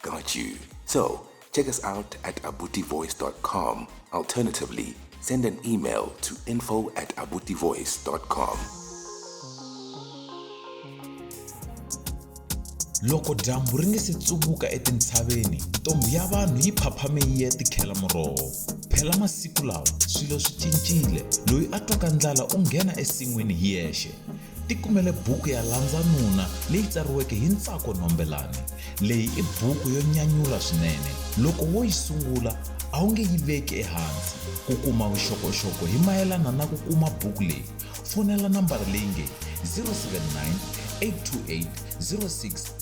Got you. So, check us out at abutivoice.com. Alternatively, send an email to info at abutivoice.com. loko dyambu ri nge se tsuvuka etintshaveni ntombhi ya vanhu yi phaphame yi ya tikhela muroho phela masiku lawa swilo swi cincile loyi a twaka ndlala u nghena esin'wini hi yexe Tikumele buku ya Landza Nuna leyi tsariweke hi Ntsako Nombelani. Leyi i buku yo nyanyula swinene. Loko wo yi sungula, a wu nge yi veki ehansi. Ku kuma vuxokoxoko hi mayelana na ku kuma buku leyi, fonela nambara leyi nge 079 828 06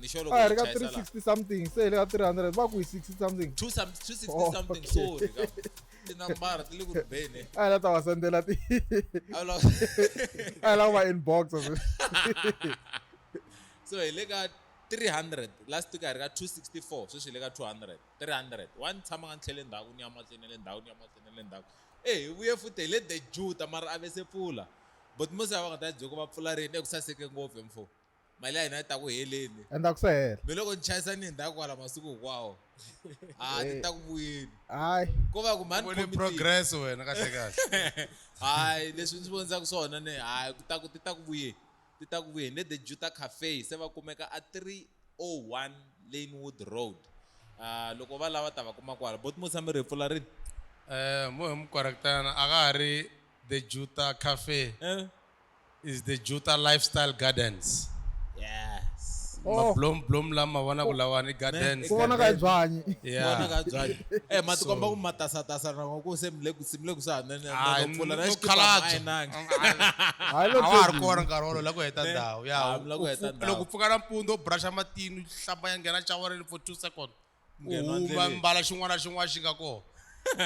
ni sure loko a hi ri ka hi chayisa laha. 360 something se hi le ka 300 va ku hi 60 something Two some- 260 Oh, something okay. sorry ka tinambara ti le ku ribeni a hi la ta va sendela ti A la- a hi la ku va inbox so hi le ka 300 last week a hi ri ka 264 sweswi hi le ka 200 300 wa ni tshama nga ni tlhele ndhaku ni ya mahlweni ni le ndhaku ni ya mahlweni ni le ndhaku e hi vuye futhi hi le the juta mara a ve se pfula but mose a va nga ta byoko va pfula rini eku saseke ngopfu hi mfo mali ya hina yi ta ku heleni endzhaku se hela mi loko ni chayisa ni hindhaku kwala masiku hinkwawo a ni ta ku vuyeni hayi ko va ku mhani vone committee. progress wena kahle kahle hayi leswi ndzi vondzaka swona ne hayi ku ta ku ti ta ku vuyeni ti ta ku vuyeni le the juta cafe se va kumeka a 301 lanewood road Ah, loko va lava ta va kuma kwala boti mo tshame ri hi pfula rini um mo hi mukorektana a ka ha ri the juta cafe Eh, is the Juta Lifestyle Gardens. Yes. Oh. Mablom blom la ma vona ku lawa ni gardens. Ku vona ka byanyi. Yeah. Vona ka byanyi. Eh mati komba ku matasa tasa na ku se mile ku simile ku sa nene na ku pfula na xikipa mai nangi. Hayi lo tlo. Awar kona nkarhi wolo la ku heta ndhawu. Ya. Loko pfuka na mpundu brusha matini hlamba ya nghena shower for 2 seconds. u Nghena huma endleleni. mbala xin'wana na xin'wana xi nga kona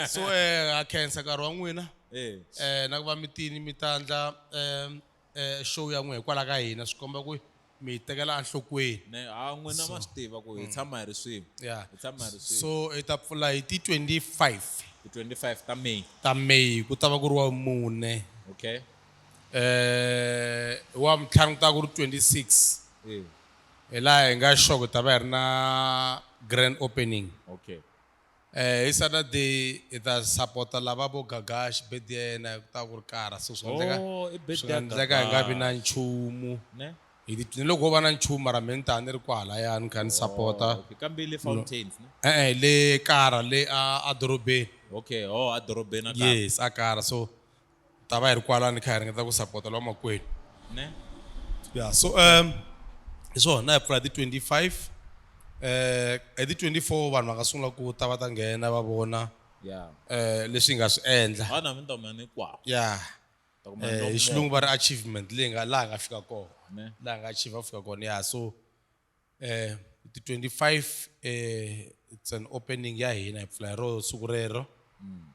so eh, ha khensa nkarhi wa n'wina Eh, eh na ku va mitini mi ta ndla eh, eh, show ya n'wina hikwalaho ka hina swi komba ku mi hi tekela enhlokweni ne ha n'wina ma swi tiva ku hi tshama hi ri swin'we ya hi tshama hi ri swin'we so hi ta pfula hi ti 25 hi 25 ta may ta may ku ta va ku ri wa mune okay eh wa mtlhanu ku ta va ku ri 26 Eh, Hi laha hi nga sure ku hi ta va hi ri na grand opening. Okay. Eh hi Saturday hi ta support-a lava vo Gagash birthday ya yena ku ta ku ri kara so swi nga endleka Oh, i birthday swi nga ya endleka hi nga vi na Gagash. nchumu. Ne? Hi ti ni loko ho va na nchumu mara mehe ni ta ni ri kwahalaya ni kha ni support-a. Oh, okay. Kambe le Fountains, ne? E-e le kara le a a dorobeni. Okay, oh a dorobeni a kara. Yes a kara so. ta va hi ri kwala ni kha hi ringeta ku sapota lwa makwenu ne ya so um hi swona hi pfula hi ti-25 eh hi ti-24 vanhu va nga sungula ku ta va ta nghena va vona ya eh leswi hi nga swi endla ha na minta mina ni kwa ya ta kuma eh, hi xilungu va ri achievement leyi nga laha hi nga fika kona ne laha hi nga achieve va fika kona ya so Eh, ti 25 eh, it's an opening ya hina hi pfula hi ro siku rero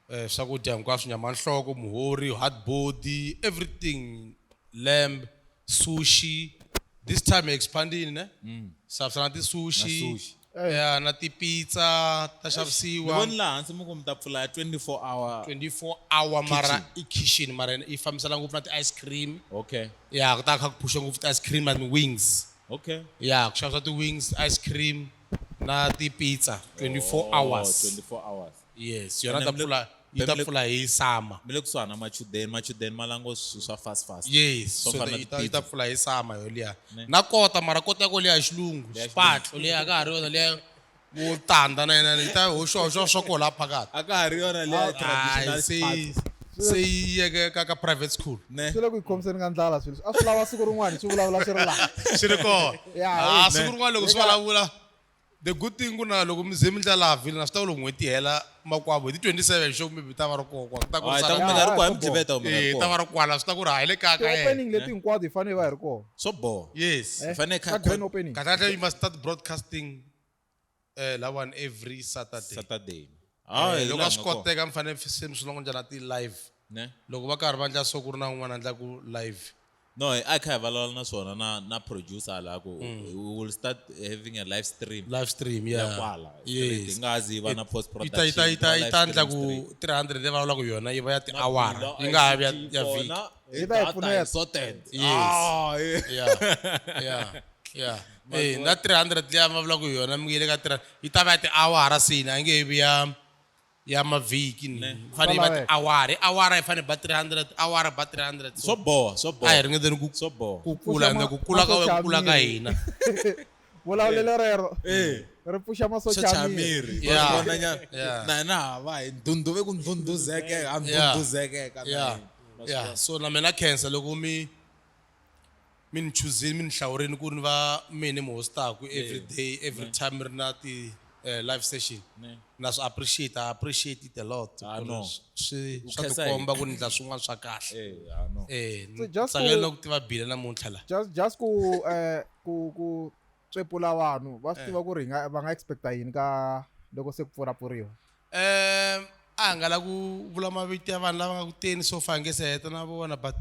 eh, swakudya hinkwaswo nyama ya nhloko muhori hard body everything lamb sushi this time hi expandini ne xavisa na tisushi Na sushi. ya na tipizza ta ni xavisiwa voni laha hansi mi ku mi ta pfula ya 24 hour 24 hour mara i kitchen mara yi fambisana ngopfu na ti-ice cream okay ya ku ta kha ku phusha ngopfu ti-ice cream na ti-wings Okay. ya ku xavisa ti-wings ice cream na ti-pizza 24 hours Oh, 24 hours. yes yona Ene ta mi le- pfula yi mi ta le- pfula hi summer Mi le kusuhana machudeni, machudeni ma lango swilo swa fast fast. yes Swo so fana na yi ta- yi ta ti-pizza. pfula hi summer yoliya Ne. na kota mara kota yako liya hi xilungu Leya xipatlo xilungu. leyi a ka ha ri yona leya vo tanda na yena leyi ta hoxohoxo swa koho la phakathi a ka ha ri yona leya Hayi, traditional se yi- party. se yi yeke ka ka private school ne swi le ku yi khomiseni ka ndlala swilo leswi. a swi lava siku rin'wana swi vulavula swi ri laha swi ri kona Ya, Ah, hi- siku rin'wana loko swi Eka- vulavula the good thing ku na loko mi ze mi ndla laha vhilini a swi ta ku loko n'hweti yi hela makwavo hi ti 27 xo maybe ta va ri kokwa ku ta ku Ah, hi ta ku mi nga ri sala- kwa hi mi dliveta kumbe nga ri Eh, ta va kona ri kwala swi ta ku ri hayi le kaya ka yena ti-opening leti hinkwato hi fanele hi va hi ri kona swo boha yes Eh, Hi fanele ka kha- grand opening kahlekahle you must start broadcasting eh lawani every saturday saturday ah eh, loko a swi koteka mi fanele se mi swi longo njhana ti-live ne loko va karhi va ndla so ku ri na un'wana a ndlaku live no hi a kha hi vulavula na swona na na producer la ku mm. we will start having a live stream live stream ya kwala yes nga zi va na post production ita ita ita ita ndla ku 300 le vulavula ku yona yi va ya ti-hour yi nga ha ya vhiki Hey, Eba data ipfuneta. is sorted. Yes. Ah, eh. ya ya ya Eh, na 300 leyi a ma vulaka hi yona mi nge le ka 300 yi ta va ya tiawara sina a yi nge he vi ya ya mavhiki ni Yi fanele yi va Swa laveka. tiawara i awara yi fanele ba 300 awara ba 300 Swo boha, swo a hi boha. ringeteni ku Swo boha. ku kula Pfuxa ende ma- ku kula ka masocha wena ku kula ka miri. hina vulavulelo rero Eh. ri pfuxa masocha Socha ya miri miri. Yeah. Wa vona nyana? Yeah. na hina ha va hi ndhundhuve ku ndhundhuzekeka ha Yeah. ndhundhuzekeka na ya hina. Ma swi ya vona? so na mina khensa loko mi mi ni chuzini mi ni hlawurini ku ni va mina mi hostaku every day every time mi ri na ti eh, live session Ne. na swi appreciate I appreciate it a lot Ah, ku ri no. swi- swi U swa khensa hi- tikomba ku ni ndla swin'wana swa kahle Eh, ah, no. eh So just tsakela ku- na ku tiva bile namuntlha la just just ku eh ku ku tswepula vanhu va swi tiva ku ri hi nga va nga expecta yini ka loko se ku pfurapfuriwa um a nga la ku vula mavito ya vanhu lava nga ku teni so far nge se heta na vona but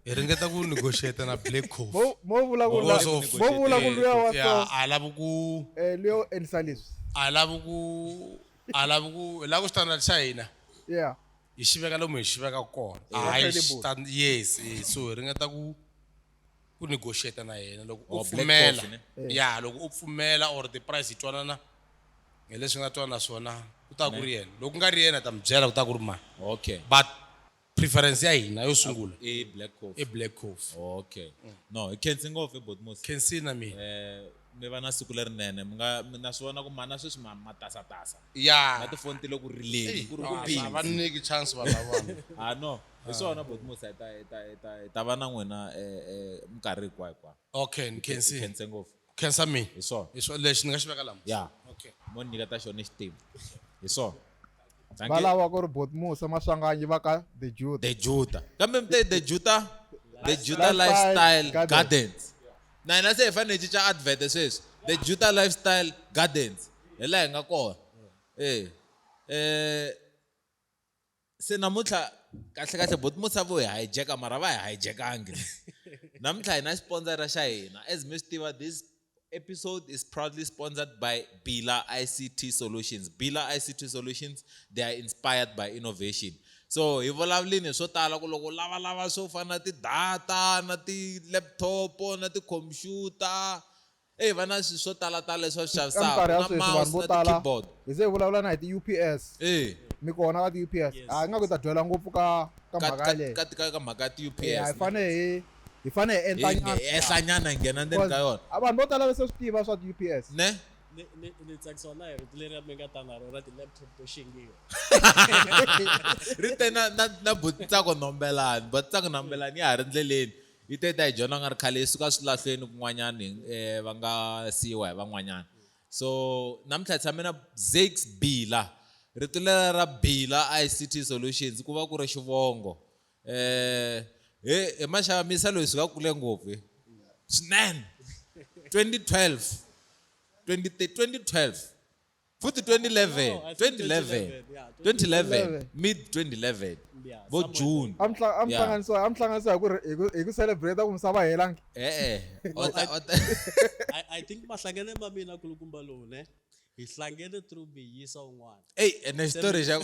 hi ringeta ku negotiate na black coffeealavi ku alavi ku alavi ku hi lava ku standard xa hina hi xi veka lomu hi xi veka kona hayi yes so hi ringeta ku ku negotiate na yena loko u Or black pfumela coffee, ne? ya loko u pfumela or the price hi twanana hi leswi nga twana swona ku ta ku ri yena loko ku nga ri yena ta mi byela ku ta ku ri mani okay but preference ya hina yo sungula i black i coffee black coffee okay no hi khensi ngopfu botmos can see na mina eh mi va na siku lerinene mi nga mi na swi vona ku mana sweswi ma matasatasa ya na tifoni ti le ku rileni ku ri ku va busy nyiki chance vanhu lavana ah no hi ah. swona boti musa hi ta hi ta hi ta hi ta va na n'wina um minkarhi hinkwayo hinkwayo okay ni khensi khense ngopfu khensa mina hi swona hi swona lexi ni nga xi veka lama ya okay mo ni nyiketa xona ni xitimu hi swona va lava ku ri boti musa maswanganyi va ka the juda the juda kambe mi te the juda the juda lifestyle gardens na hina se hi fanele hi cinca advert sweswi the juda lifestyle gardens hi laha hi nga kona ee um se namuntlha kahlekahle boti musa vo hi hijacker mara va hi hijackangi namuntlha hi na xipondzara xa hina as mi swi tiva this episode is proudly sponsored by bila ict solutions bila ict solutions they are inspired by innovation so hi vulavulini hi swo tala ku loko lavalava swo fana na ti-data na ti-laptop na ti-computer Eyi va na swi swo tala tala leswi va swi Ka minkarhi xavisaka ya na sweswi vanhu mouse vo na ti tala keyboard. hi ze hi vulavula na hi ti UPS Eyi. mi kona ka ti UPS Yes. ha ingaku hi ta dwela ngopfu ka ka Ka mhaka ka yaleyo ka ti ka ka mhaka ya ti eya hi UPS ne. fane hi hi fane hi endla Hi nyana hi ehla nyana hi nghena ndzeni ka yona. a vanhu vo tala va se swi tiva swa ti UPS. Ne. Ni ni ni tsakisiwa na hi rito leriya mi nga ta na ro ra ti laptop to xingiwa. Ri te na na na buti Tsako Nombelani, buti Tsako Nombelani ya ha ri ndleleni Yi te yi ta hi dyondza ku nga ri khale yi suka swilahlweni kun'wanyana va nga siyiwa hi van'wanyana. So namuntlha hi tshame na Zakes Bila. Rito lera ra Bila ICT Solutions ku va ku ri xivongo. He he maxava mi yisa loyi hi suka kule ngopfu he swinene twenty twelve twenty twenty twelve. futhi 2011 2011 2011 mid 2011 vo june amhlanganisa amhlanganisa hi ku hi ku hi ku celebrate ku misava helangi eh eh i think mahlangene ma mina kulukumba lowu ne hi hlangene through biyisa un'wana eyi ene xitori xa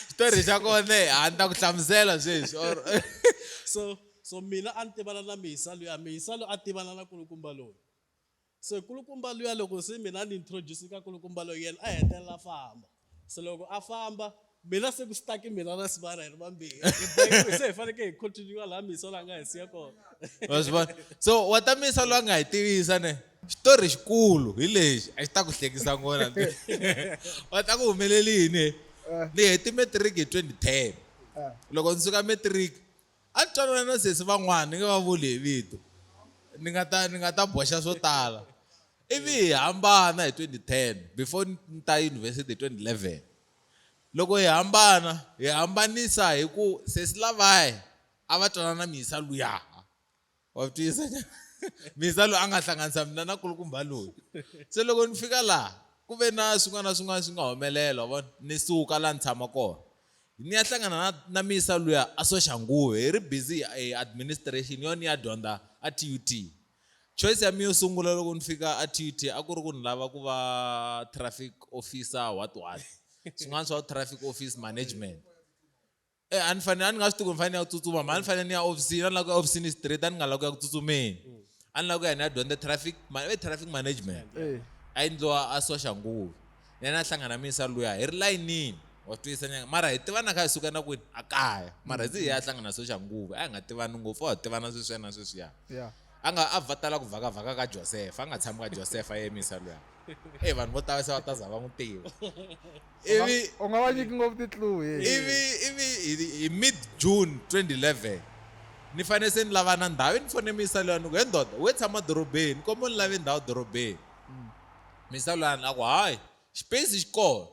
xitori xa kona a ni ta ku hlamusela sweswi or so so mina a ni tivana na mihisa loyi a mihisa loyi a tivana na kulukumba loyi Se kulukumba luya loko se mina a ni introduce ka kulukumba loyi yena a hetelela a famba. Se loko a famba mina se ku stuck mina na Sibana hi ri vambirhi hi bohiwile se hi fanekele hi continue laha Misa la nga hi siya kona. Wa swi vona? So wa ta Misa loyi a nga hi tivisa ne xitori xikulu hi lexi a xi ta ku hlekisa nghohe la wa ta ku humelele yini he ni heti matric hi twenty ten loko ni suka matric A ni twanana na sesi van'wana ni nga va vuli hi vito ni nga ta ni nga ta boxa swo tala ivi hi hambana hi twenty ten before ni ta yunivhesiti hi twenty eleven loko hi hambana hi hambanisa hi ku sesi lavaya a va twanana na mhisa luyaha wa tiyisa misa loyi a nga hlanganisa mina na kulukumba loyi se loko ni fika laha ku ve na swin'wana na swin'wana swi nga humelela wa vona ni suka laha ni tshama kona ni ya hlangana na na misa luya a soxanguve hi ri busy e administration yo ni ya dyondza a t u t choice ya mina yo sungula loko ni fika a t u t a ku ri ku ni lava ku va traffic officer what what swin'wana swa traffic office management Eh, a ni fanele a ni nga swi tivi ni fanele ni ya tsutsuma mhani ni fanele ni ya ofisini a ni lava ku ya ofisini straight a ni nga lava ku ya ku tsutsumeni a ni lava ku ya ni ya dyondza traffic ma- eh, traffic management Eh. a yi ndliwa a soxa nguvi ni yena a hlangana minisa luya hi ri layinini wa swi twisisa nyanga mara hi tivana kha hi suka na kwini a kaya mara hi ze hi ya hlangana soxa nguvi a hi nga tivani ngopfu a hi tivana sweswiya na sweswiya Yeah. a nga a va tala ku vhakavhaka ka josefa a nga tshami ka josefa a yemisa luya e vanhu vo tala se va ta za va n'wi tiva ivi u nga va nyiki ngopfu titluhi ivi ivi hi mid june 2011 ni fanele se ni lava na ndhawu ni fone misa luya ni ku he ndoda we tshama dorobeni kombo ni lave ndhawu dorobeni mm. misa luya ni a ku hayi xipesi xi kona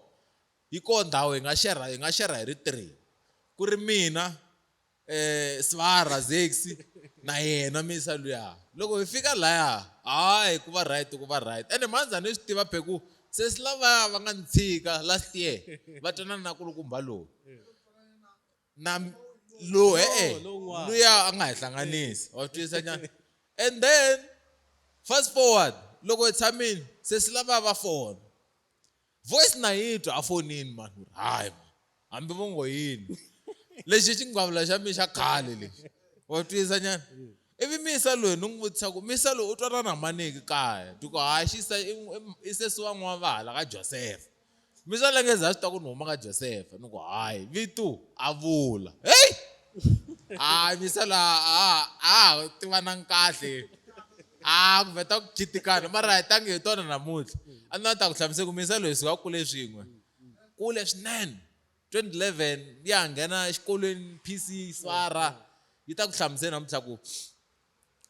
yi kona ndhawu hi nga xerha hi nga xerha hi ri three ku ri mina eh Svara Zexi na yena misa luya loko hi fika laya hayi ku va right ku va right ene manza ni swi tiva pheku se si lavaya va nga ni tshika last year va twanana na kulukumba lowu na lowu e-e luya a nga hi hlanganisi wa swi twisisa nyana and then fast forward loko hi tshamile se si lavaya va fona Voice na yi twa a fonini mani ni ri hayi mani hambi vo ngo yini lexi i xingwavula xa mina xa khale lexi wa twisa nyana ivi misa loyi ni n'wi vutisa ku misa loyi u twanana na maniki kaya ti ku hayi xisa i sesi wa n'wana va hala ka josefa misa lengeza a swi ta ku ni huma ka josefa ni ku hayi vitu a vula heyi hayi misa la a a ha tivanangi kahle a ku vheta ku khitikana mara hi tangi hi tona namuntlha a ni ta ku hlamusela ku minsa loyi sika kule swin'we kule swinene 2011 ya nghena exikolweni PC Swara yi ta ku hlamusela namuntlha ku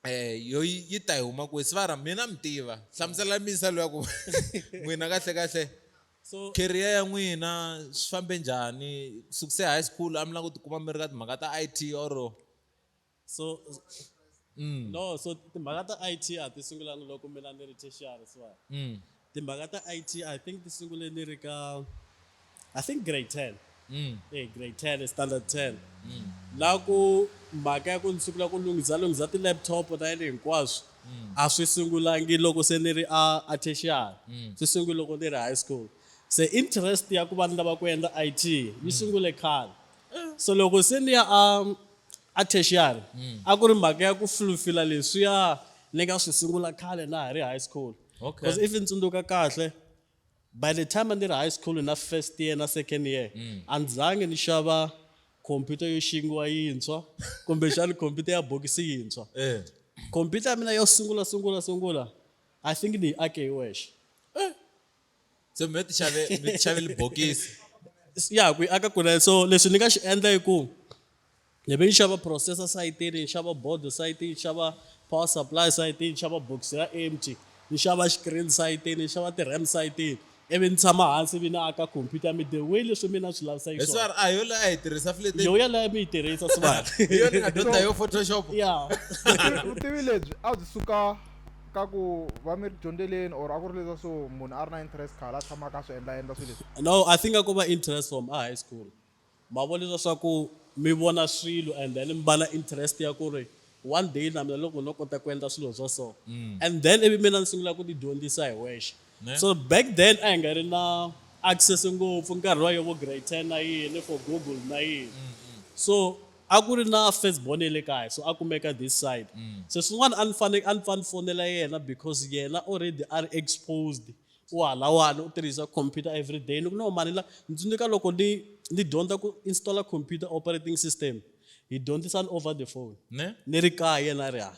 eh yo yi ta yi huma ku Swara mina mi tiva hlamusela minsa loyi ku n'wina kahle kahle so career ya n'wina swi fambe njhani sukuse high school a mi languti kuma mi ri ka timhaka ta IT or So mm. no so timhaka ta it a ti sungulanga loko mina ni ri tertiary siwa mm. timhaka ta it i think ti sungule ni ri ka i think grade ten mm. hey, grade ten standard ten mm. la ku mhaka ya ku ni sungula ku lunghisa lunghisa ti-laptop na yini hinkwaswo mm. a swi sungulangi loko se ni ri a a tertiary mm. swi sungule loko ni ri high school se interest ya ku va ni lava ku endla it yi mm. sungule khale so loko se ni ya a um, A tertiary mm. a ku ri mhaka ya ku fulfila leswiya ni nga swi sungula khale na ha ri high school okay. because if ni tsundzuka kahle by the time a ni ri high school na first year na second year mm. a ni zange ni xava khompyuta yo xingiwa yintshwa kumbexani khompyuta ya bokisi yintshwa eh. khompyuta ya mina yo sungula sungula sungula i think ni yi ake hi wexe eh. se mi ti xave mi ti xave libokisi ya ku yi aka kule so leswi ni nga xi endla i ku ni ve ni xava processor sayitini ni xava bodo sayitini ni xava power supply sayitini ni xava box ra empty ni xava screen sayitini ni xava ti-ram sayitini ivi ni tshama hansi ivi ni aka khompyuta ya mi the way leswi mina swi lavisa hi swona a yo leyi a yi tirhisa flete yo yaleyo mi yi tirhisa swivana yo ni nga dyondza yo photoshop ya vutivi lebyi a byi suka ka ku va mi ri dyondzeleni or a ku ri leswa so munhu a ri na interest khala a tshamaka a swi endla endla swilo leswi no i think a ku va interest from a high school ma vo leswa swa ku mi vona swilo and then mi va na interest ya ku ri one day na mina loko no kota ku endla swilo swa so mm. and then ivi mina ni sungula ku tidyondzisa hi wexe so back then a hi nga ri na access ngopfu nkarhi wa yovo grade ten na yini for google na yini mm, mm. so A ku ri na first born ya le kaya so a kumeka this side se swin'wana a ni fane a ni pfa ni fonela yena because yena already a ri exposed u halawani u tirhisa computer everyday ni ku no mhani la ni tsundzuka loko ni ni dyondza ku installer computer operating system hi dyondzisana over the phone ne ni ri kaya yena a ri hala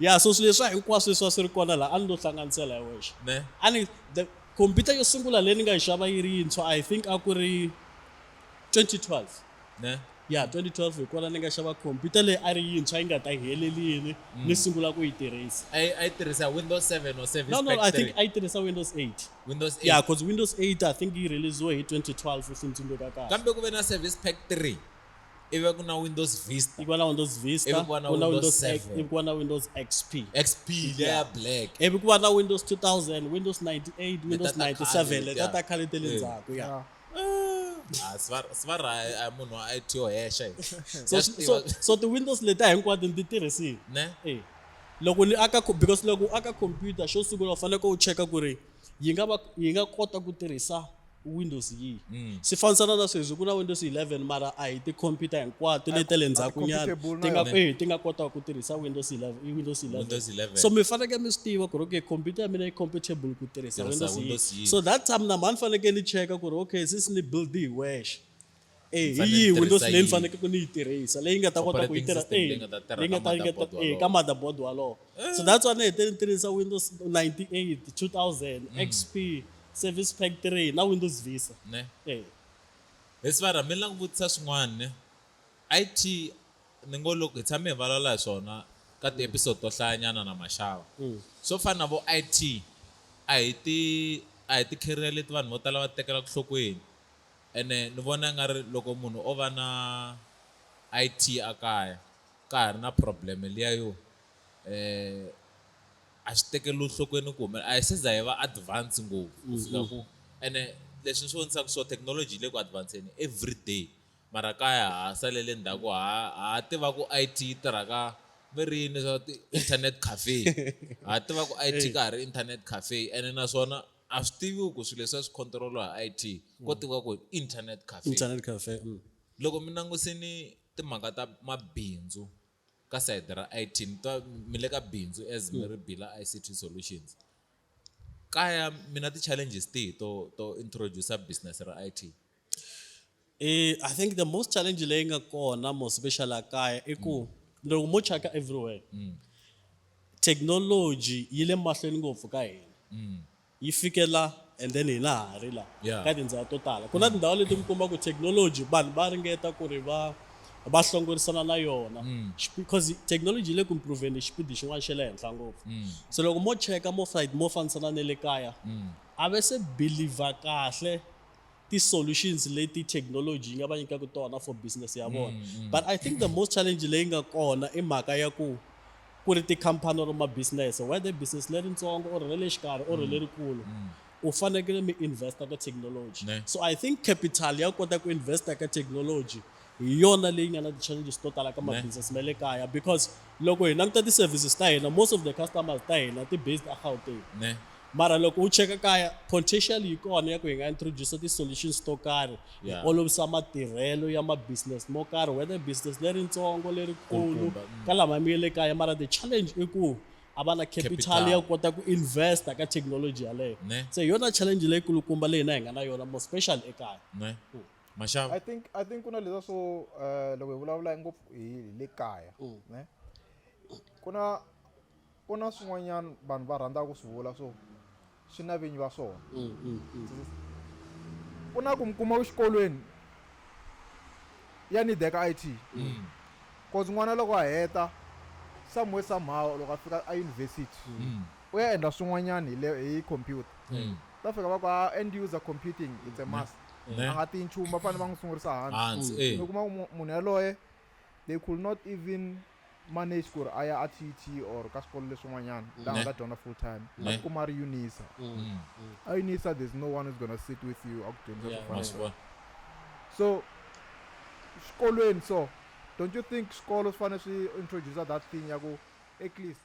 Yeah, so swilo leswa hinkwaswo leswi a swi ri kona laha a ni lo hlanganisela hi wexe ne a ni the computer yo sungula leyi ni nga yi xava yi ri yintshwa i think a ku ri 2012 ne ya 2012 hi kona ni nga xava computer leyi a ri yintshwa yi nga ta helelini Mm. ni sungula ku yi tirhisa a yi a yi tirhisa windows 7 or 7 no no i think a yi tirhisa windows 8 windows 8 ya because windows 8 i think yi releasiwe hi 2012 if ni tsundzuka kahle kambe ku ve na service pack 3 ivi ku na windows vista ivi ku na windows vista ivi ku va na windows 7 ivi ku va na windows xp xp leya ya black ivi ku va na windows 2000 windows 98 windows 97 leta ta khale te le ndzhaku ya ah. Ah, svara a munhu a it yo hexa so ti-windows leti a hinkwato ni ti tirhisile ne eh. loko ni aka because loko u aka computer xo sungula u faneleke u cheka ku ri yi nga va yi nga kota ku tirhisa Windows yi mm. swi fanisana na sweswi ku na Windows 11 mara a hi tikhompyuta hinkwato leti ta le ndzhaku nyana ti nga ehe ti nga kotaka ku tirhisa Windows 11 i Windows 11 so mi fanekele mi swi tiva ku ri okay khompyuta ya mina yi compatible ku tirhisa Windows yi so that time na mhani fanekele ni cheka ku ri okay since ni build hi wexe Eh, hi yihi Windows leyi ni fanekele ni yi tirhisa leyi nga ta kota ku yi tirha eh, leyi nga ta tirha eh, ka motherboard walowo so eh. that's why ni hete ni tirhisa Windows 98 2000 mm. XP Service Pack 3 na Windows Vista ne eh hi sivara mi langa vutisa swin'wana ne IT ni ngo loko hi tshame hi valala hi swona ka ti episode to hlayanyana na maxava mm. swo fana na vo IT a hi ti a hi ti career leti vanhu vo tala va tekela ku hlokweni Ene ni vona i nga ri loko munhu o va na IT a kaya ka ha ri na problem liya yo a swi tekeriwi nhlokweni ku a hi se za hi va advance ngopfu ku fika ku ene leswi ni swi vonisaka so technology yi le ku advance-eni every day mara kaya ha salele ndzhaku ha ha tiva ku IT yi tirha ka ve ri yini leswaku ti-internet cafe ha tiva ku IT ka ha ri internet cafe ene naswona a swi tiviwi ku swilo leswi a swi controliwa hi it ko mm. tiviwa ku internet cafe internet cafe mm. loko mi langusini timhaka ta mabindzu ka sayiti ra it mi twa mi le ka bindzu as mi ri mm. bila ict solutions kaya mina ti-challenges tihi to to introduce business ra it Eh, I think the most challenge leyi nga kona mo special la kaya i ku loko mo chaka everywhere mm. technology yi le mahlweni ngopfu ka hina mm. yi fikela and then hina ha ri la ka tindhawu to tala ku na mm. tindhawu leti mi kuma ku technology vanhu va ringeta ku ri va va hlongorisana na yona because technology yi le ku improveni hi xipidi xin'wana xa le henhla ngopfu so loko mo cheka mo side mo fambisana na le kaya a ve se believer kahle ti-solutions leti technology yi nga va nyikaka tona for business ya vona mm, mm. but i think the most challenge leyi nga kona i mhaka ya ku ku ri tikhampani or mabusiness whether business leritsongo or ra le xikarhi or mm. lerikulu mm. u fanekele mi investa ka technology so i think capital ya kota ku investa ka technology hi yona leyi nga na ti-challenges to tala ka ma-business ma le kaya because loko hi languta ti-services ta hina most of the customers ta hina ti-based agauteng mara loko u cheka kaya potential yi kona ya ku hi nga introduce ti-solutions to karhi hi olovisa matirhelo ya ma-business mo karhi whether business leritsongo lerikulu mm. ka lama mi ye le kaya mara the challenge i ku a va na capital ya kota ku investa ka technology yaleyo se hi yona challenge leyikulukumba leyi na hi nga na yona more special ekaya maxava i think i think ku na leswa swo um loko hi vulavula ngopfu hi le kaya mm. ne ku na ku na swin'wanyana vanhu va rhandzaka ku swi vula swo swi na vinyi va swona mm, mm, ku na ku mi kuma exikolweni ya nideka i t cause n'wana loko a heta somewhere somehow loko a fika a university u ya endla swin'wanyana hi computer ta fika va ku a ah, end user computing it's a must ne? a nga tiyi nchumu va fanele va n'wi sungurisa hansi hansi eh. mi kuma ku mu- munhu yaloye they could not even manage ku ri a ya a tt or ka swikolo leswin'wanyana laha a Ne? nga ta dyondza full time a Ne? tikuma a ri unisa Mm. a unisa there's no one who's gonna sit with you a ku dyondzisa Yeah. swo ma fana swi vona so xikolweni so don't you think swikolo swi fanele swi introducer that thing ya ku at least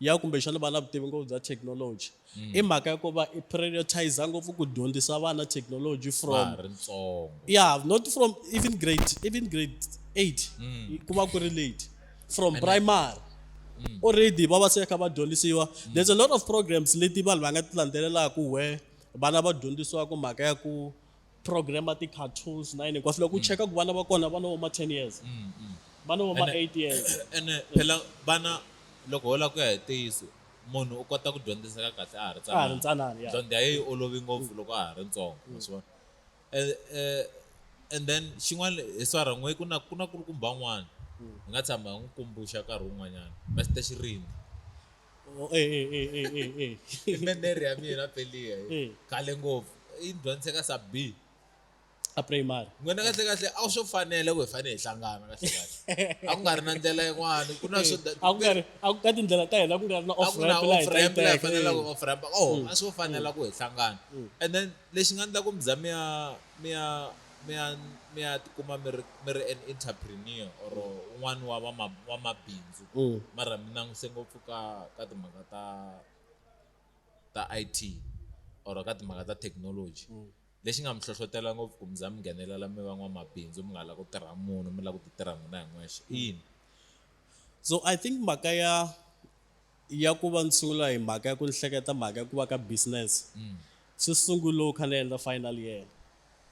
ya kumbexana va na vutivi ngopfu bya technology mm. i mhaka ya ku va i prioritize ngopfu ku dyondzisa vana technology from yeah not from even grade even grade eight mm. ku va ku ri late from And primary mm. already va va se kha va dyondzisiwa mm. there's a lot of programs leti vanhu va nga ti landzelelaka where vana va dyondzisiwaka mhaka ya ku program ya ti-cartoons na yini hinkwaswo loko u mm. cheka ku vana va kona vana vo ma ten years mm, mm. vana vo ma eight years ene phela vana loko ho lava ku ya hi ntiyiso munhu u kota ku dyondziseka kahle a ha ri tsanana ntsanana dyondzo ya yi olovi ngopfu loko a ha ri ntsongo maswona e, e, and then xin'wana hi swa rhan'we ku na ku na kulukumba n'wana hi nga tshama hi n'wi kumbuxa nkarhi wun'wanyana mester xirindi Oh, eh, eh, eh, eh, eh, eh. i memory ya mina peliya Eh. khale ngopfu yi ni dyondzise ka sub b a primary n'wina kahle kahle a swo fanele ku hi fanele hi hlangana kahle kahle a ku nga ri na ndlela yin'wana ku na swo a ku nga ri a ku ka tindlela ta hina ku nga ri na a off ku na ramp laha hi off ta yi ramp laha teka. fanelaka ku off ramp oh a swo fanela ku hi hlangana and then lexi nga ndla ku mi za mi ya mi ya mi ya mi ya tikuma mi ri mi ri an interpreneur or un'wana wa va wa mabindzu mm. mara mi languse ngopfu ka ka timhaka ta ta IT or ka timhaka ta technology mm. lexi nga mi hlohlotela ngopfu ku mi za mi nghenelela mi va n'wamabindzu mi nga la ku tirha munhu mi la ku ti tirha n'wina hi n'wexe mm. yini so i think mhaka ya ya ku va ni sungula hi mhaka ya ku ni hleketa mhaka ya ku va ka business swi sungule loko kha ni endla final year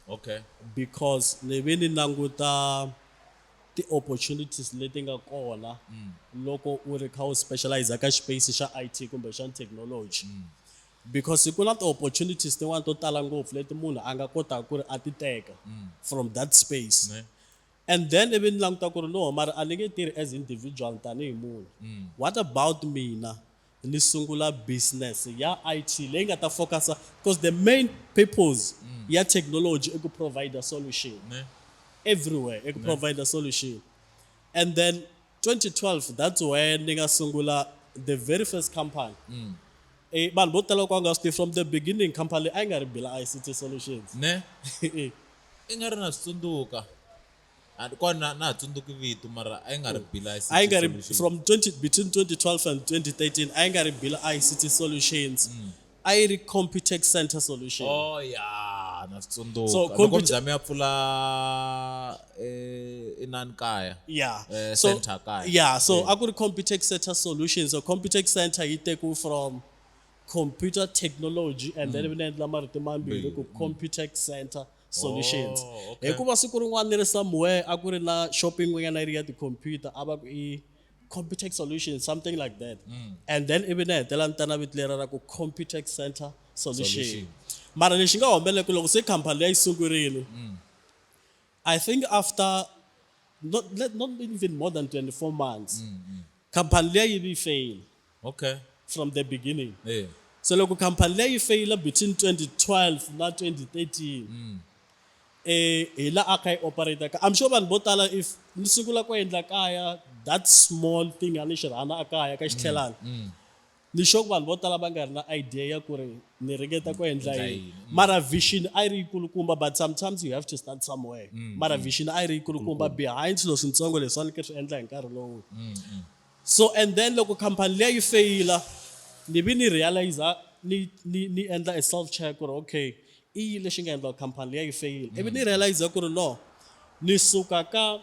okay because ni ve ni languta ti-opportunities leti nga kona loko u ri kha u specialize ka space xa i t kumbe xa technology because ku na ti-opportunities tin'wani to tala ngopfu leti munhu a nga kotaka ku ri a ti teka from that space Ne. and then ivi ni languta ku ri no mara a ni nge tirhi as individual tanihi munhu what about mina ni sungula business ya IT leyi nga ta focus-a coz the main purpose ya technology i ku provide-a solution everywhere i ku provide-a solution and then 2012 that's when ni nga sungula the very first company mm. e, vanhu vo tala ku a nga swi tivi from the beginning company leyi a yi nga ri bila ict solutions ne e. i nga ri na swi tsundzuka kona na ha tsundzuki vito mara a yi nga ri mm. bila ict a yi nga ri from 20 between 2012 and 2013 a yi nga ri bila ict solutions mm. a yi ri Computec Centre Solution. Oh ya na swi tsundzuka. So, Loko computer- Mzame a pfula eh, inani kaya. Yeah. Eh, so, center kaya. Yeah, so Yeah. a ku ri Computec Centre Solution. So Computec Centre yi teku from computer technology and then vina endla marito mambirhi ku Computec Centre Solutions. Oh, okay. Hikuva siku rin'wana ni ri somewhere a ku ri na shopping yin'wanyana yi ri ya ti-computer a va ku i Computech solution something like that mm. and then ivi ni hetela ni ta na vito lera ra ku Computech center solution, solution. mara lexi nga humelele ku loko se khampani leyi sungurile mm. i think after not, not even more than 24 months mm, mm. khampani leyi yi fail Okay. from the beginning Eh. so loko khampani leyi feyila between 2012 na 2013 Mm. eh hi la a kha yi operator ka i'm sure vanhu vo tala if ni sungula ku endla kaya that small thing a ni xi rhana a kaya ka xitlhelana Mm. ni sure ku vanhu vo tala va nga ri na idea ya ku ri ni ringeta ku endla Endla yini yini. Mm. mara vision a yi ri yikulukumba but sometimes you have to start somewhere Mm, mara vision a yi ri yikulukumba behind swilo swintsongo leswi a ni ke swi endla hi nkarhi lowu Mm. Mm. So and then loko company liya yi feyila ni vi ni realiser ni ni ni endla a self check ku ri okay i yini lexi nga endla company liya yi feyila ivi ni realiser ku ri no ni suka ka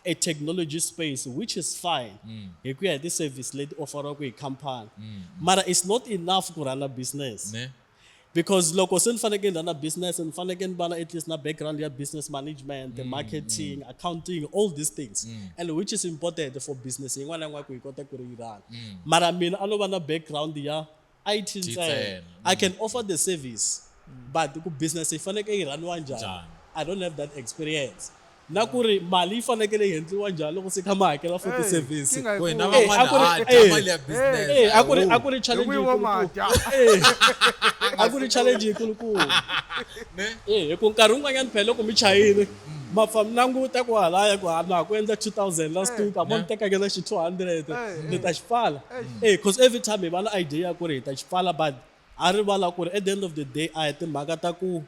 a technology space which is fine mm. hi ku ya hi ti-service leti offeriwaka hi company mm. mara it's not enough ku run a business ne? Because loko se ni fanekele ni rhana business ni fanekele ni va na at least na background ya business management, mm, marketing, mm. accounting, all these things. Mm. And which is important for business yin'wana na yin'wana ku yi kota ku ri yi rhana. Mm. Mara mina a no va na background ya IT ntsena. I can offer the service. Mm. But ku business yi fanekele yi rhaniwa njhani? I don't have that experience. na ku ri mali yi fanekele yi hendliwa njhani loko se kha ma hakela for ti service a ku ri a ku ri challenge a ku ri challenge yikulukulu hi ku nkarhi wun'wanyana phela loko mi chayile ma fa mi languta ku halaya ku hana ku endla 2000 last week a mo ni tekake na xi 200 ni ta xi pfala eh because every time hi va na idea ya ku ri hi ta xi pfala but a rivala ku ri at the end of the day a hi timhaka ta ku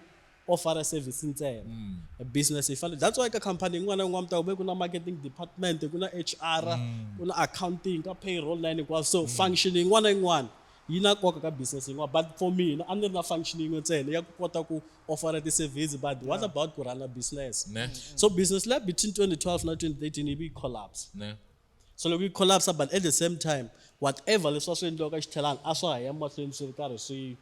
o fara service ntsena mm. business yi fane that's why ka company yin'wana yin'wana mi ta ku ku na marketing department ku na HR mm. ku na accounting ka payroll na yini hinkwaswo so mm. function yin'wana yin'wana yi na nkoka ka business yin'wana but for mina a ni ri na function yin'we ntsena ya ku kota ku offera ti-service but yeah. what about ku rhana business ne. so business lab between 2012 na 2013 yi vi yi collapse ne. so loko yi collapse but at the same time whatever leswi va swi endliwaka xithelani a swa ha ya mahlweni swi ri karhi swi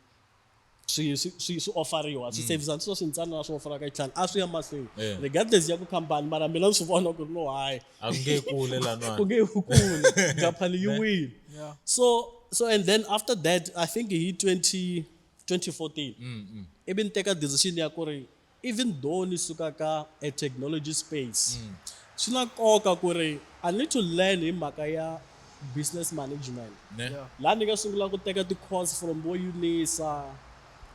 swi swi swi swi ofariwa swi service mm. swo swi ntsanana swi ofara ka tlhanga a swi ya mahlweni eh. regardless ya ku khampani mara mina ni swi vona ku ri no hayi a ku nge kule lana ku nge kule khampani yi wile so so and then after that i think hi 20 2014 mm, mm. ivi ni teka decision ya ku ri Even though ni suka ka a technology space, swi na nkoka ku ri I need to learn hi mhaka ya business management. Ne? Laha ni nga sungula ku teka ti-course from vo UNISA,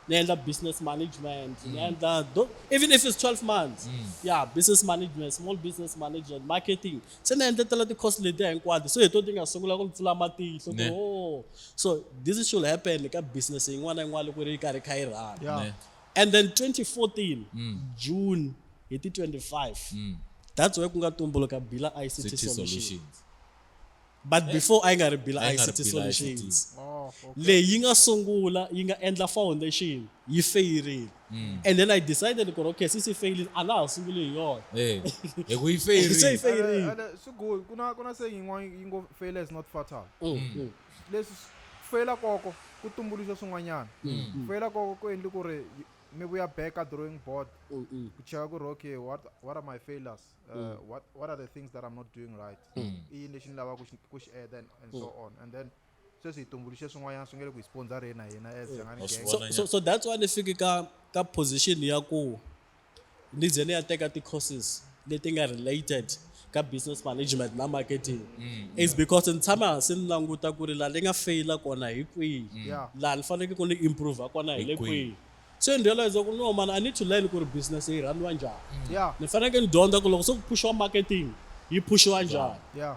ni endla business management, ni endla tho- even if it's 12 months, ya business management, small business management, marketing. Se ni endletela ti-course letiya hinkwato, se hi to ti nga sungula ku ni pfula matihlo Ne. ku oh, so this should happen ka business yin'wana na yin'wana loko yi ri karhi yi kha yi run. Yeah. Ne? and then 2014 mm. june hi ti 25 mm. that's why ku nga tumbuluka bila ict City solutions, solutions. but eh. before a yi nga ri bila ict solutions oh, okay. leyi yi nga sungula yi nga endla foundation yi feyirile Mm. and then i decided ku ri okay since yi failile a na ha sunguli hi yona eh, hi ku yi failile se yi failile swi good ku na ku na se yin'wana yi ngo failure is not fatal mm, mm. Leswi ku feyila koko ku tumbuluxe swin'wanyana. Ku feyila koko ku endli ku ri ni vuya back ka drawing board ku cheka ku ri okay what what are my failures what what are the things that I'm not doing right i yini lexi ni lava ku ku xi add and and so on and then sweswi hi tumbuluxe swin'wanyana swi nge le ku hi sponsor-eni na hina as Jangani gang. So so so that's why ni fiki ka ka position ya ku ni ze ni ya teka ti-courses leti nga related ka business management na marketing mm, is yeah. because ni tshama hansi ni languta ku ri laha ni nga feyila kona hi kwihi mm. yeah. laha ni faneleke ku ni improve kona hi le kwihi so ni realize ku no man i need to learn ku ri business yi rhandiwa njhani mm. yeah. ni faneleke ni dyondza ku loko se ku pushiwa marketing yi pushiwa njhani yeah.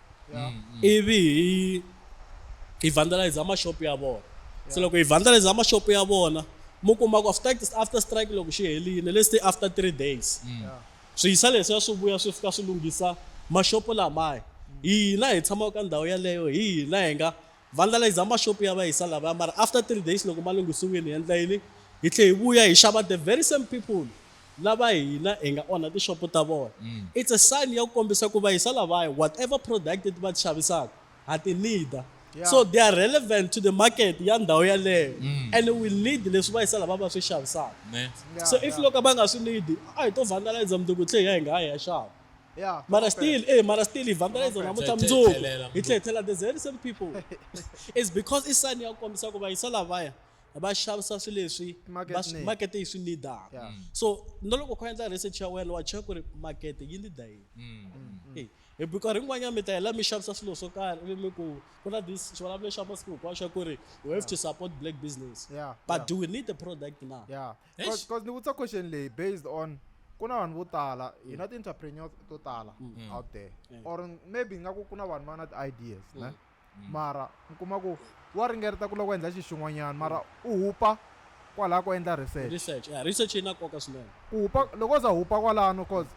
ivi hi hi vandalize mashop ya vona se loko hi vandalize mashop ya vona mu kuma ku after after strike loko xi helini let's say after three days swiyisa leswiya swi vuya swi fika swi lunghisa mashopo lamaya hina hi tshamaka ka ndhawu yaleyo hina hi nga vandlalizer mashop ya va hisa lavaya mara after three days loko ma lunghisiwile hi endla yini hi tlhe hi vuya hi xava the very same people lava hina hi nga onha tixopo ta vona mm. it's a sign ya ku kombisa ku va hisa lavaya whatever product va ti xavisaka ha ti nida Yeah. so they are relevant to the market ya ndhawu yaleyo mm. and we need leswi va hisa lava va swi xavisaka so if loko va nga swi need a hi to vandalize mnduku tlhe hi ya hi nga ha ya xava Yeah. Mara still, eh, mara still ivhangela idzo namutlha mundzuku hi tlhethela the very same people is because i sani ya kombisa ku vayisa lavaya va xavisa swilo leswi makete yi swi nidaka mm. so na loko kho endla research ya wena wa cheka ku ri makete yi nida yini mm, mm, eh, hi bikari yin'wanyana mi ta hela mi xavisa swilo swo karhi mi ku ku na this xivulavule xa masiku hinkwaxo ku ri we have to support black business but do we need the product now Eish. because ni vutisa question leyi based on ku na vanhu vo tala hi na ti-entrepreneurs to tala Mm. out there Mm. or maybe nga ku ku na vanhu va na ti-ideas ne Mm. mara mi kuma ku wa ringereta ku lava ku endla xi xin'wanyana mara u hupa kwalaha ku endla research research yeah, research yi na nkoka swinene ku hupa loko u za hupa kwalano cause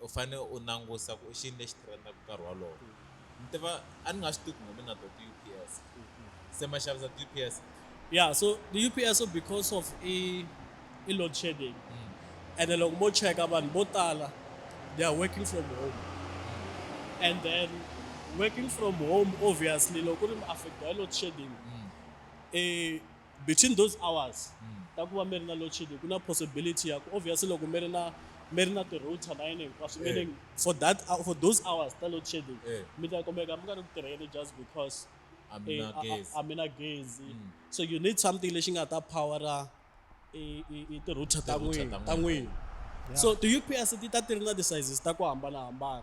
U fane u nangusa ku i xini lexi trendaka nkarhi wolowo ni tiva a ni nga swi tivi ku ngomi na to ti-ups se ma xavisa ti-ups yeah so ti-ups because of i i load shedding mm. and then loko mo cheka vanhu vo tala they are working from home and then working from home obviously loko ri mi affecta hi load shedding mm. eh between those hours mm. ta ku va mi ri na load shedding ku na possibility ya ku obviously loko mi ri na mi ri na ti-router na yini hinkwaswo eh. meaning for that uh, for those hours ta load shedding eh. mi ta kumeka mi nga ri ku tirheni just because a mi eh, na gezi mm. so you need something lexi nga ta powera ti-router ta n'wina ta n'wina so ti-ups ti ta ti ri na ti-sizes ta ku hambanahambana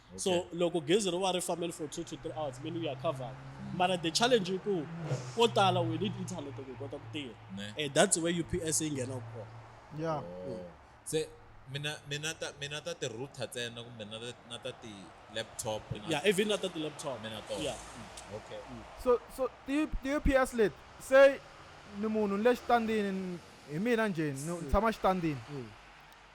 so Okay. loko gezi ri va ri fambile for two to three hours mini u ya covered mara the challenge i ku ko tala we need internet ku hi kota ku tirha Ne. Eh, that's where ups yi nghenaka kona ya Oh. se mina mina ta mina ta ti router tsena kumbe na ta- na ta ti laptop na- yeah even na ta ti-laptop mina to yeah okay so so ti ti ups leti se ni munhu ni le xitandini ni- hi mina njhe ni tshama xitandini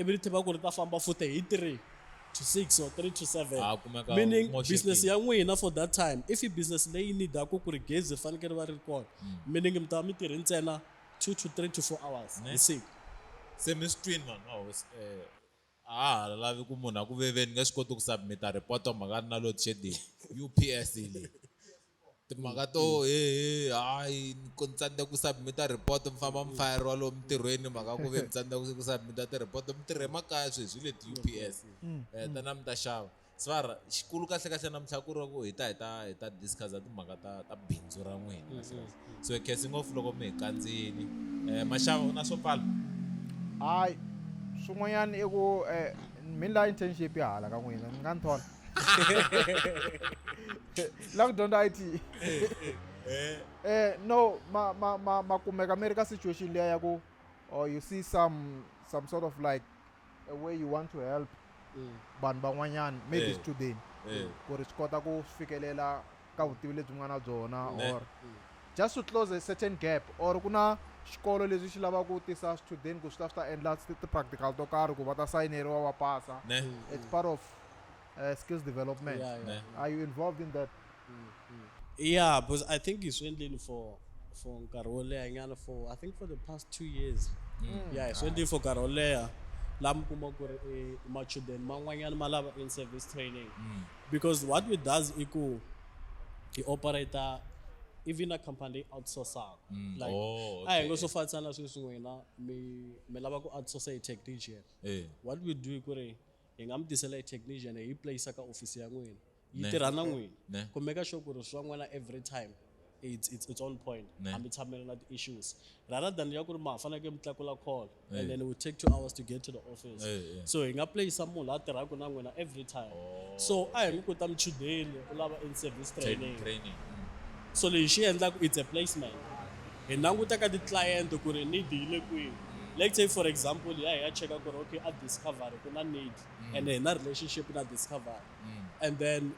ivi ri tiva ku ri ta famba futhi hi three to six or three to seven Ah, kumeka meaning moxekile. business ya n'wina for that time if i business leyi needaku ku ri gezi ri fanekele ri va ri ri kona meaning mi ta va mi tirhi ntsena two to three to four hours Ne. hi siku se mi swi twini vanhu va hosi eh, a ha ha lavi ku munhu a ku veveni nge swi koti ku submita report mhaka ri na load shedding ups yi le timhaka to hehe hayi ku ni tsandzeka ku submit-a report mi famba mi fayeriwa lomu mintirhweni mhaka ku ve ni tsandzeka ku submit-a ti-report mi tirhe makaya sweswi hi le u p s um ta na mi ta xava svara xikulu kahle kahle namuntlha ku ri ku hi ta hi ta hi ta discuss-a timhaka ta ta bindzu ra n'wina kahle kahle so khesi ngopfu loko mi hi kandziyini um maxava u na swo pfala hayi swin'wanyana i ku um mi la internship hala ka n'wina ni nga ni thola la ku dyondza it eh. eh no ma ma ma ma kumeka mi ri ka situation leya ya ku or oh, you see some some sort of like a way you want to help mm. vanhu van'wanyana maybe eh. student eh. ku ri swi kota ku fikelela ka vutivi lebyi mi nga na byona or just to close a certain gap or ku na xikolo leswi xi lavaka ku tisa swichudeni ku swi ta swi ta endla ti-practical to karhi ku va ta sayineriwa va pasa it's part of uh, skills development yeah, yeah. are you involved in that mm, mm. yeah because i think hi swi endleni for for nkarhi wo leha nyana for i think for the past two years mm. yeah hi swi endleni for nkarhi wo leha laha mi kuma ku ri eh, machudeni man'wanyana ma lava in service training mm. because what we does i ku hi operator even a company leyi outsourcaka mm. like oh, a hi ngo swo fanisana na sweswi n'wina mi mi lava ku outsource hi technician eh. what we do i ku ri hi nga mi tisela hi technician hi yi place ka office ya n'wina yi tirha na n'wina kumeka sure ku ri swa n'wina every time it's, it's its own point Ne. hambi tshamela na ti-issues rather than ya ku ri ma faneleke mi tlakula call Eh. and then it will take two hours to get to the office Eh, eh. so hi nga playisa munhu la tirhaka na n'wina every time Oh, so a hi mi kuta muchudeni u lava in service Training, training training. Mm. so lexi xi endlaka it's a placement hi languta ka ti-client ku ri need yi le kwihi let's say for example ya hi ya cheka ku ri okay a discovery ku na need and hi na relationship na discovery Mm. and then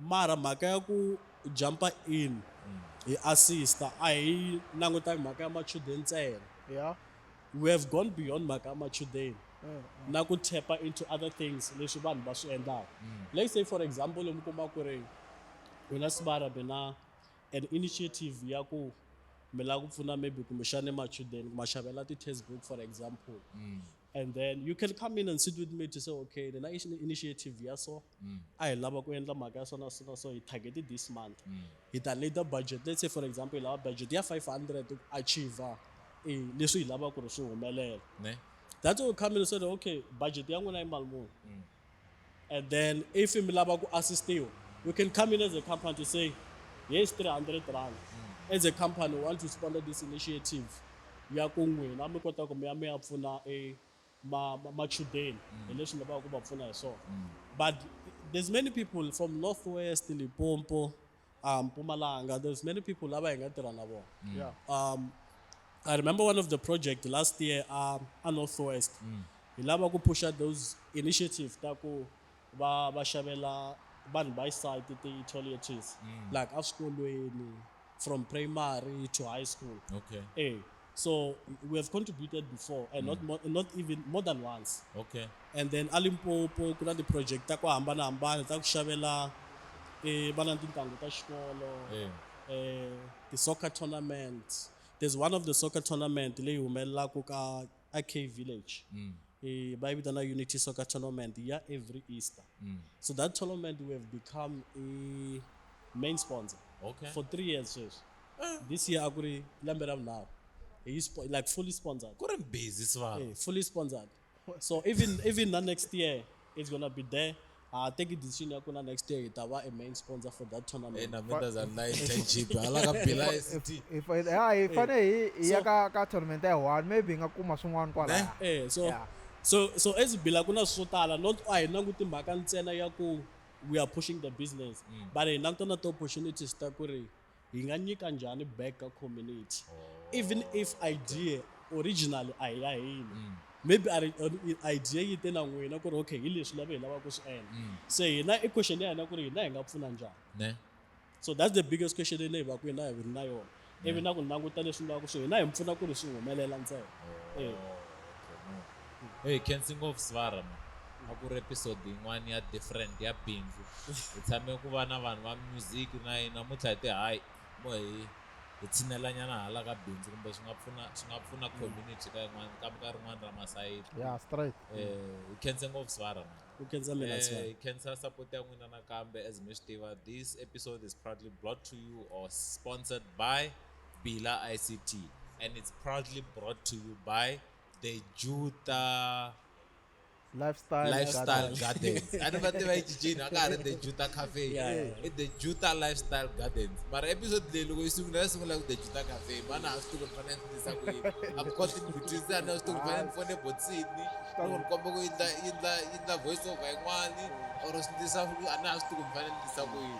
mara mhaka ya ku jump-a in hi assist-a a hi langutangi mhaka ya machudeni ntsena ya we have gone beyond mhaka ya machudeni na ku tap-a into other things leswi vanhu va swi endlaka let's say for example mi kuma ku ri mina sibara mina an initiative ya ku mi lava ku pfuna maybe kumbexani machudeni ku ma xavela ti-test book for example and then you can come in and sit with me to say okay the nice initiative ya so mm. a hi lava ku endla mhaka ya sona sona so hi target this month mm. hi ta need the budget let's say for example hi lava budget ya 500 ku achiever eh, leswi hi lava ku ri swi humelela that's why we come in and say okay budget ya n'wina yi mali muni mm. And then if mi lava ku assistiwa, we can come in as a company to say, here's 300 rand. Mm. As a company, we want to sponsor this initiative. ya ku n'wina mi kota ku mi ya mi ya pfuna e machudeni mm. hi leswi mi lavaka ku va pfuna hi swona mm. but there's many people from northwest limpopo um Mpumalanga there's many people lava hi nga tirha na vona mm. yeah. um I remember one of the project last year um, a Northwest mm. hi lava ku pusha those initiative ta ku va va xavela vanhu va site ti-toiletries mm. like eswikolweni from primary to high school okay. e So we have contributed before and not, more, not even more than once. okay And then a Limpopo ku na ti-project ta ku hambanahambana ta ku xavela eh, vana ni tintanghu ta xikolo Eh. eh, ti-soccer tournament. There's one of the soccer tournament leyi humelelaka ka AK Village. eh, va yi vitana unity soccer tournament ya every easter mm. so that tournament we have become a main sponsor okay. for three years sweswi eh. this year a ku ri lembe ra vunharhu hi like fully sponsored ku ri busy swa eh, fully sponsored so even even na next year it's gonna be there ha teki decision ya ku na next year hi ta va a main sponsor for that tournament ina mi ta za na internship hala ka bila ST ha hi fane hi hi ya ka ka tournament ya one maybe nga kuma swin'wana kwala eh, eh so yeah. so so as bila kuna swo tala not a hi languti mhaka ntsena ya ku we are pushing the business mm. but hi langutana ti-opportunities ta ku ri hi nga nyika njhani back ka community oh, even if idea originally a hi ya hina mm. maybe idea yi te na n'wina ku ri okay hi leswi lava hi lavaka ku swi endla mm. se hina i question ya hina ku ri hina hi nga pfuna njhani so that's the biggest question leyi hi va ku hina hi ri na yona ivi na ku languta leswi vulaka ku swi hina hi mi pfuna ku ri swi humelela ntsena oh, eh. Hey, cancer ngopfu Svara man. A ku ri episode yin'wana ya different ya bindzu. Hi tshame ku va na vanhu va music na yini namuntlha hi te hayi mo hi hi tshinelanyana hala ka bindzu kumbe swi nga pfuna swi nga pfuna community ka yin'wana ka ka rin'wana ra masayiti. Yeah, straight. Eh, hi khense ngopfu Svara man. Ku khensa mina Eh, Svara. hi khensa support ya n'wina nakambe as mi swi tiva this episode is proudly brought to you or sponsored by Bila ICT and it's proudly brought to you by the juta lifestyle, lifestyle gardens a ni va tiva yi cincini a ka ha ri the juta cafe i the juta lifestyle gardens mara episode leyi loko yi sungula ya sungula ku the juta cafe mana a swi tivi ni fanele ni tisa ku yini a ku koti ni vutisa a ni swi tivi ni fanele ni fone botsini or ni komba ku yindla yindla yindla voice over yin'wani or swi tisa a na ha swi tivi ni fanele ni tisa ku yini